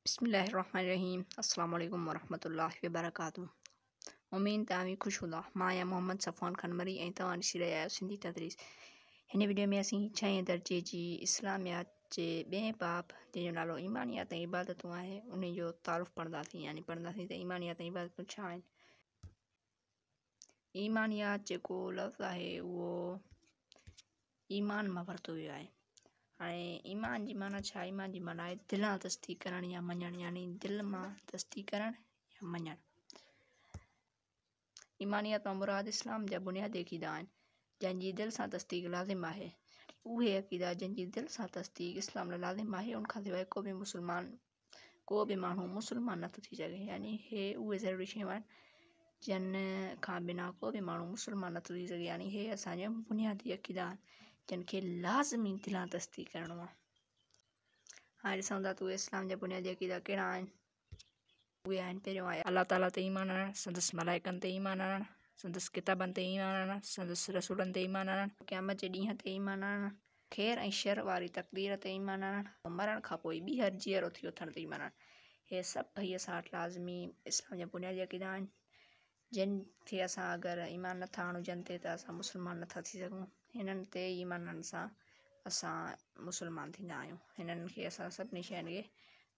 بسم الله الرحمن الرحيم السلام عليكم ورحمة الله وبرڪاته امين تان وي خوش هوندا مان يا محمد صفوان خنمري ۽ توهان ڏسي رهيا آهيو سنڌي تدريس هن ويڊيو ۾ اسين ڇهين درجي جي اسلاميات جي ٻئين باب جنهن جو نالو ايمانيات ۽ عبادتون آهي ان جو تعارف پڙهنداسين يعني پڙهنداسين ته ايمانيات ۽ عبادتون ڇا آهن ايمانيات جيڪو لفظ آهي اهو ايمان مان ورتو ويو آهي هاڻي ايمان جي معنيٰ ڇا ايمان جي معنيٰ آهي دل آ تصديق ڪرڻ يا مڃڻ يعني دل مان تصديق ڪرڻ يا مڃڻ ايمانيت مان مراد اسلام جا بنيادي عقيدا آهن، جن جي دل سان تصديق لازم آهي، يعني اهي عقيدا جن جي دل سان تصديق اسلام لاء لازم آهي، ان کان سواء ڪو به مسلمان ڪو به ماڻهو مسلمان نه ٿو ٿي سگهي، يعني اهي اهي ضروري شيون آهن، جن کان بنا ڪو به ماڻهو مسلمان نه ٿو ٿي سگهي، يعني اهي اسان جا بنيادي عقيدا آهن، جن کي لازمي دلان تصديق ڪرڻو آهي. هاڻي ڏسون ٿا ته اهي اسلام جا بنيادي عقيدا ڪهڙا آهن. اهي آهن پهريون آيا الله تعاليٰ تي ايمان آڻڻ سندس ملائڪن تي ايمان آڻڻ سندس ڪتابن تي ايمان آڻڻ سندس رسولن تي ايمان آڻڻ قيامت جي ڏينهن تي ايمان آڻڻ خير ۽ شر واري تقدير تي ايمان آڻڻ ۽ مرڻ کان پوء ٻيهر جيئرو ٿي اٿڻ تي ايمان آڻڻ اهي سڀئي اسان وٽ لازمي اسلام جا بنيادي عقيدا آهن جن کي اسان اگر ايمان نٿا آڻون جن تي ته اسان مسلمان نٿا ٿي سگهون هنن تي ايمان آڻڻ سان اسان مسلمان ٿيندا آهيون هنن کي اسان سڀني شين کي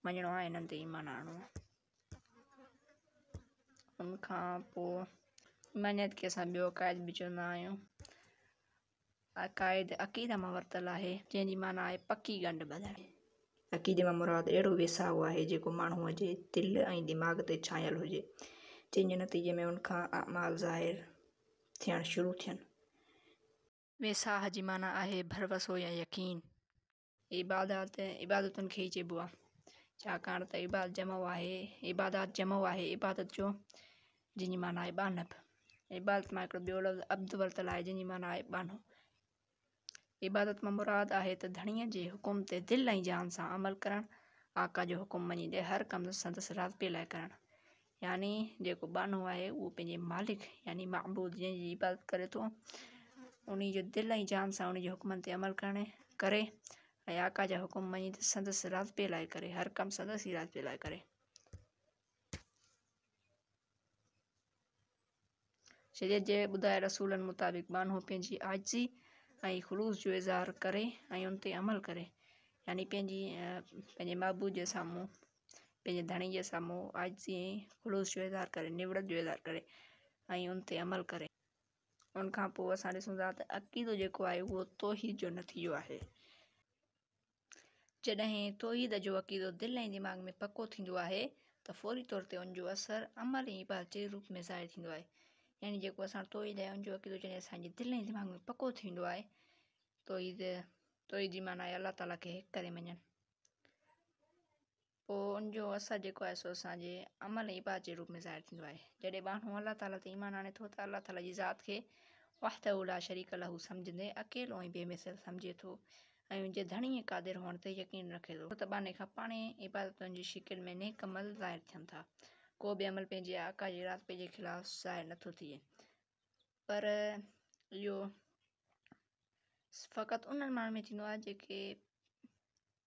مڃڻو آهي هنن تي ايمان آڻڻو آهي ان کان پوء ايمانيت کي اسان ٻيو عقائد به چوندا آهيون عقائد، عقيده مان ورتل آهي، جنهن جي معنيٰ آهي پڪي ڳنڍ ٻڌڻ. عقيدي مان مراد اهڙو ويساهه آهي، جيڪو ماڻهوء جي دل ۽ دماغ تي ڇانيل هجي، جنهن جي نتيجي ۾ ان کان اعمال ظاهر ٿيڻ شروع ٿين. ويساهه جي معنيٰ آهي ڀروسو يا يقين. عبادات، عبادتن کي ئي چئبو آهي، ڇاڪاڻ ته عباد جمع آهي، عبادات جمع آهي عبادت جو، جنهن جي معنيٰ آهي ٻانهپ. عبادت مان هڪڙو ٻيو لفظ عبد ورتل آهي، جنهن جي معنيٰ آهي ٻانهو. عبادت مان مراد آهي ته ڌڻيء جي حڪم تي دل ۽ جان سان عمل ڪرڻ، آقا جو حڪم مڃيندي هر ڪم سندس راضپي لاء ڪرڻ. يعني جيڪو ٻانهو آهي اهو پنهنجي مالڪ يعني معبود جنهن جي عبادت ڪري ٿو ان جو دل ۽ جان سان ان جي حڪمن تي عمل ڪرڻ ڪري ۽ آقا جا حڪم مڃي ته سندس راضپي لاء ڪري هر ڪم سندس ئي راضپي لاء ڪري شريعت جي ٻڌايل اصولن مطابق ٻانهو پنهنجي عاجزي ۽ خلوص جو اظهار ڪري ۽ ان تي عمل ڪري يعني پنهنجي پنهنجي معبود جي سامهون پنهنجي ڌڻي جي سامهون عاجزي ۽ خلوص جو اظهار ڪري نوڙت جو اظهار ڪري ۽ ان تي عمل ڪري ان کان پوء اسان ڏسون ٿا ته عقيدو جيڪو آهي اهو توحيد جو نتيجو آهي جڏهن توحيد جو عقيدو دل ۽ دماغ ۾ پڪو ٿيندو آهي ته فوري طور تي ان جو اثر عمل ۽ عبادت جي روپ ۾ ظاهر ٿيندو آهي يعني جيڪو اسان توحيد ۽ ان جو عقيدو جڏهن اسان جي دل ۽ دماغ ۾ پڪو ٿيندو آهي توحيد توحيد جي معنيٰ آهي الله تعاليٰ کي هڪ ڪري مڃڻ پوء ان جو اثر جيڪو آهي سو اسان جي عمل ۽ عبادت جي روپ ۾ ظاهر ٿيندو آهي جڏهن ماڻهو الله تعاليٰ تي ايمان آڻي ٿو ته الله تعاليٰ جي ذات کي وحده لا شريڪ له سمجهندي اڪيلو ۽ بي مثل سمجهي ٿو ۽ ان جي ڌڻي ۽ قادر هئڻ تي يقين رکي ٿو ته ٻانهي کان پاڻهي عبادتن جي شڪل ۾ نيڪ عمل ظاهر ٿين ٿا ڪو به عمل پنهنجي آقا جي ارادي جي خلاف ظاهر نه ٿو ٿئي پر اهو فقط انهن ماڻهن ۾ ٿيندو آهي جيڪي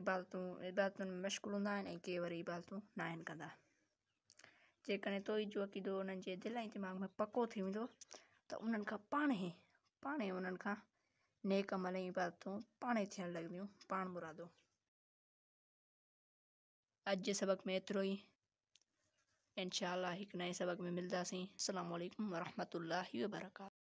عبادتون عبادتن ۾ مشغول هوندا آهن ۽ ڪي وري عبادتون نه آهن ڪندا جيڪڏهن توحيد جو عقيدو انهن جي دل ۽ دماغ ۾ پڪو ٿي ويندو ته انهن کان پاڻ هي پاڻ هي انهن کان نيڪ عمل ۽ عبادتون پاڻ هي ٿيڻ لڳنديون پاڻ مرادو اڄ جي سبق ۾ ايترو ئي انشاء الله هڪ نئين سبق ۾ ملنداسين السلام عليكم ورحمة الله وبرڪاته